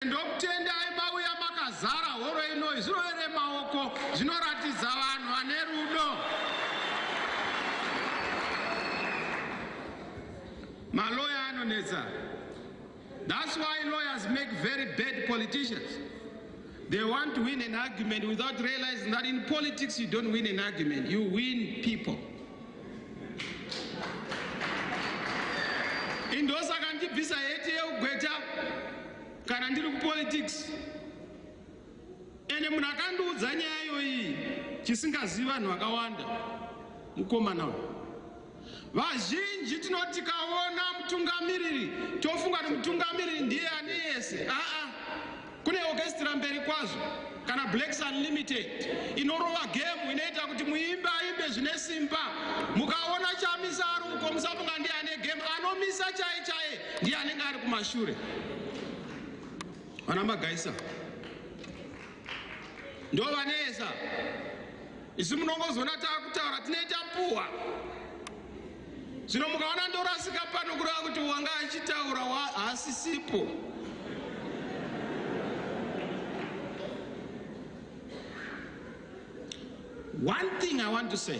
ndokutendai mauya makazara horo inoi zvirovere maoko zvinoratidza vanhu vane rudo maloya anonetsa That's why lawyers make very bad politicians. They want to win an argument without realizing that in politics you don't win an argument, you win people. Indosaka ndibvisa heti yeugweta kana ndiri kupolitics. Ende munhu akandiudza nyaya iyoyi chisingazivi vanhu vakawanda mukomana uyu. Vazhinji tinoti tikaona mutungamiriri tofunga kuti mutungamiriri ndiye ane yese. Aa, kune orchestra mberi kwazvo kana Blacks Unlimited inorova gemu inoita kuti muimbi aimbe zvine simba. Mukaona Chamisa ari uko musafunga ndiye ane gemu, anomisa chaye chaye ndiye anenge ari kumashure. Vana Magaisa. ndovanetsa isu munongozoona taakutaura tinoita puwa zvino mukaona ndorasika pano kureva kuti wanga achitaura haasisipo one thing i want to say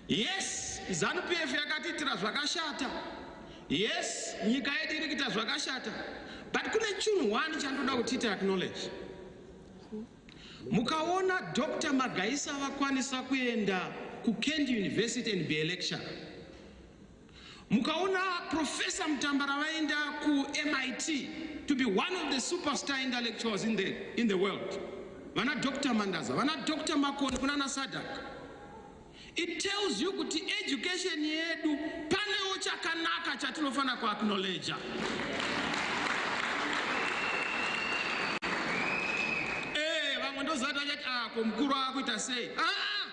Yes zanu PF yakatiitira zvakashata yes nyika yedu iri kuita zvakashata but kune chunhu one chandoda kuti ita acknowledge mukaona Dr Magaisa vakwanisa kuenda kuKent University and be a lecturer Mukaona Professor Mutambara vaenda ku MIT to be one of the superstar intellectuals in the, in the world. Vana Dr. Mandaza, vana Dr. Makoni kunana Sadak. It tells you kuti education yedu panewo chakanaka chatinofanira ku acknowledge. Eh, vamwe ndozati achati ah, ko mukuru akuita sei? Ah!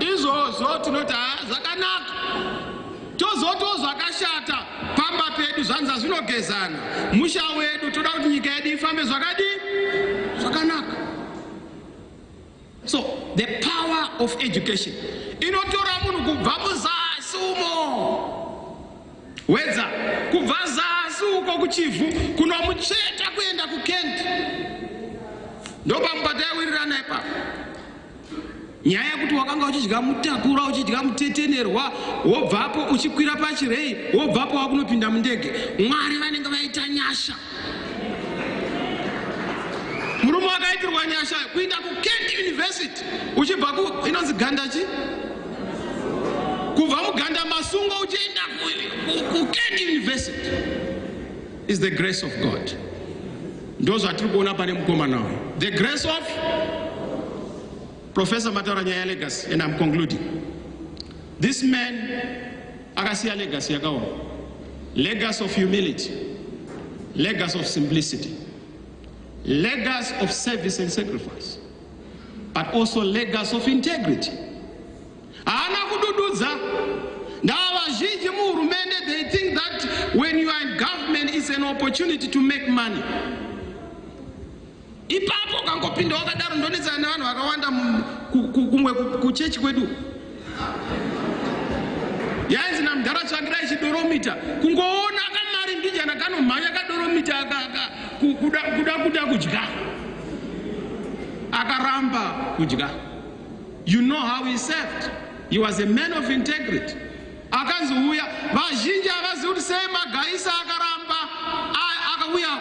izvozvo tinoti haa zvakanaka tozotiwo zvakashata pamba pedu zvanza zvinogezana musha wedu toda kuti nyika yedu ifambe zvakadii zvakanaka so the power of education inotora munhu kubva muzasi umo wedza kubva zasi uko kuchivhu kunomutsveta kuenda kukent ndopamubata yawirirana ipapo nyaya yekuti wakanga uchidya mutakura uchidya mutetenerwa wobvapo uchikwira pachirei wobvapo wakunopinda mundege mwari vanenge vaita nyasha murume wakaitirwa nyasha kuinda kukent university uchibva ku inonzi ganda chi kubva muganda masungo uchienda kukent university Is the grace of God. Ndozvatiri kuona pane mukomana uyu. The grace of Professor mataura nyaya legacy and I'm concluding. This man akasiya legacy yakaoma. Legacy of humility. Legacy of simplicity. Legacy of service and sacrifice. But also legacy of integrity. Haana kudududza. Ndava vazhinji muhurumende they think that when you are in government is an opportunity to make money. Ipapo ukangopinda wakadaro ndonetsana nevanhu vakawanda kumwe kuchechi kwedu. Yainzi namdhara tsvangirai chidoromita kungoona kamari mbijana kanomhanya kadoromita kuda kuda kudya akaramba kudya. You know how he served. He was a man of integrity. Akanzi uya vazhinji avazi kuti sei magaisa akaramba akauya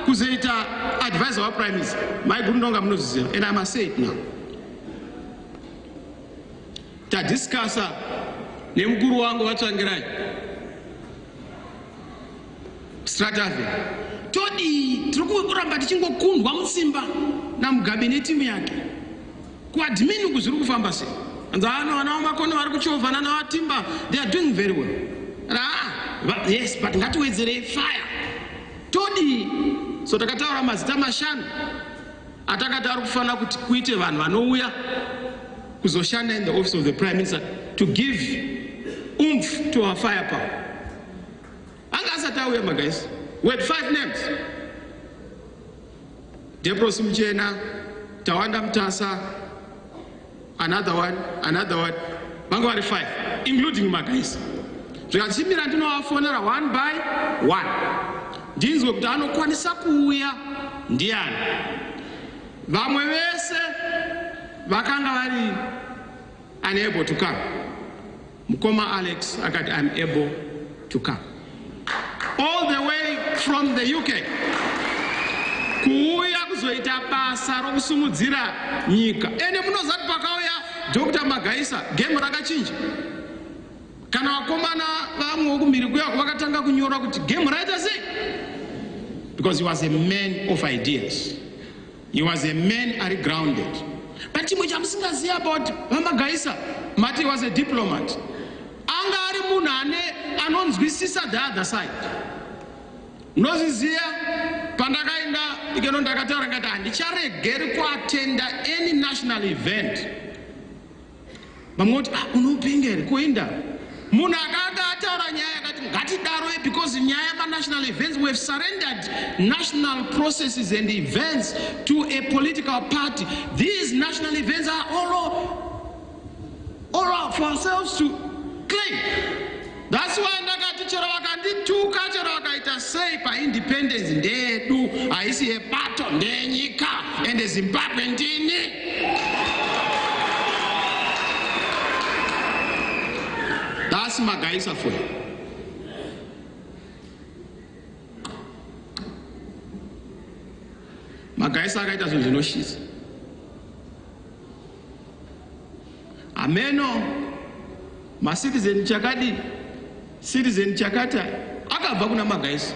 kuzoita advisor wa prime minister. Mai Gurundonga munozviziva and I must say it now. Tadiscussa nemukuru wangu vatsvangirai Stratave todii tiri kuramba tichingokundwa mutsimba namugabe netimu yake kuadmin uku zviri kufamba sei anzi ano vana vamakono vari kuchovhana navatimba they are doing very well raa yes but ngatiwedzerei fire todii so takataura mazita mashanu atakati ari kufanira kuti kuite vanhu vanouya kuzoshanda in the office of the prime minister to give umf to our fire power Anga asati auya magaisi. We had five names. Debros Mchena, Tawanda Mtasa, another one, another one. Vanga vari five, including magaisi. Zvikachimbira ndinovafonera one by one. Ndinzwe kuti anokwanisa kuuya ndiani. Vamwe vese vakanga vari unable to come. Mukoma Alex akati I'm able to come all the way from the UK kuuya kuzoita basa rokusimudzira nyika ende munozati pakauya Dr. Magaisa game rakachinja kana vakomana vamwe vokumhiri kuya vakatanga kunyora kuti game raita sei because he was a man of ideas He was a man ari grounded. But chimwe chamusingaziva about VaMagaisa, mati he was a diplomat. Anga ari munhu ane anonzwisisa the other side. Nozviziva pandakaenda ikeno ndakataura ngati handicharegeri kuatenda any national event. vamwe voti ah, unopenga here koenda munhu akaanga ataura nyaya yakati ngatidaroi because nyaya yemanational events we have surrendered national processes and events to a political party these national events are all, all for ourselves to claim That's why ndakati chero vakandituka chero vakaita sei paindependence ndeyedu haisi yebato ndeyenyika ende zimbabwe ndini that's magaisa for you magaisa akaita zvinhu zvinoshisa Hameno ma citizen chakadi citizen chakata akabva kuna magaisi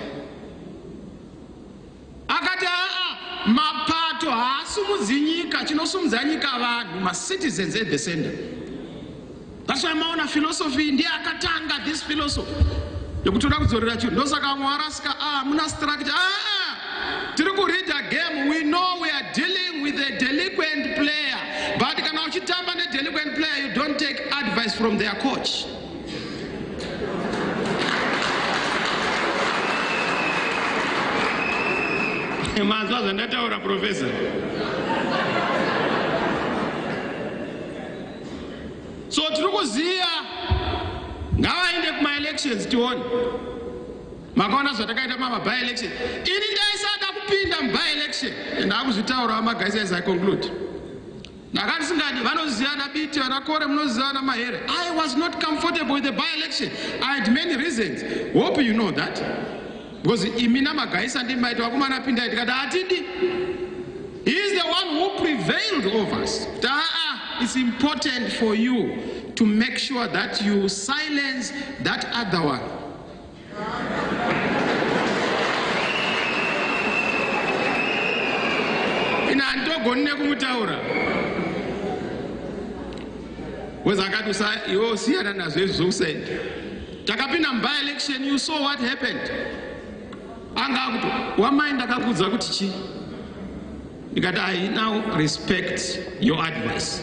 akati aa mapato haasumudzi nyika chinosumudza nyika vanhu ma citizens at the center that's why maona philosophy ndiye akatanga this philosophy yekutoda kudzorera chinhu ndosaka vamwe varasika a ah, muna structure aa ah, ah. tiri kureader game we know we are dealing with a delinquent player but kana uchitamba nedelinquent player you don't take advice from their coach manzwa zvandataura professor so tiri kuziva ngavaende kumaelections tione makaona zvatakaita mama by election ini ndaisada kupinda muby election and akuzvitaura vamagaisa as i conclude ndakati singadi vanozivana biti vanakore munozivana mahere i was not comfortable with the by election i had many reasons hope you know that because imi namagaisa ndimaita vakomana pindai tikati hatidi he is the one who prevailed over us kuti aa it's important for you to make sure that you silence that other one ina handitogoni nekumutaura weza akati usa iwe usiyana nazvo izvi zvokusaenda takapinda muby election you saw what happened anga akuti wamai ndakakuudza kuti chii ndikati i now respect your advice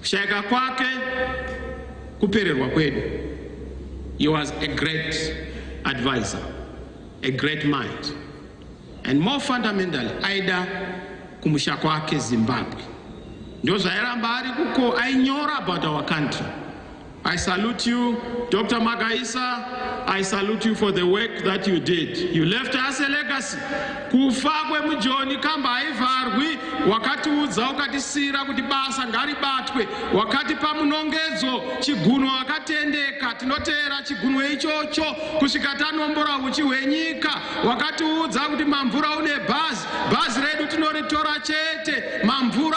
Kushaika kwake kupererwa kwedu. He was a great advisor, a great mind. And more fundamentally, aida kumusha kwake Zimbabwe. Ndozvairamba ari kuko, ainyora about our country. I salute you, Dr. Magaisa. I salute you for the work that you did. You left us a legacy. Kufa kwemujoni kamba haivharwi. Wakatiudza ukatisira kuti basa ngaribatwe. Wakatipa munongedzo chigunwe wakatendeka. Tinoteera chigunwe ichocho kusvika tanombora huchi hwenyika. Wakatiudza kuti mamvura une bhazi. Bhazi redu tinoritora chete. Mamvura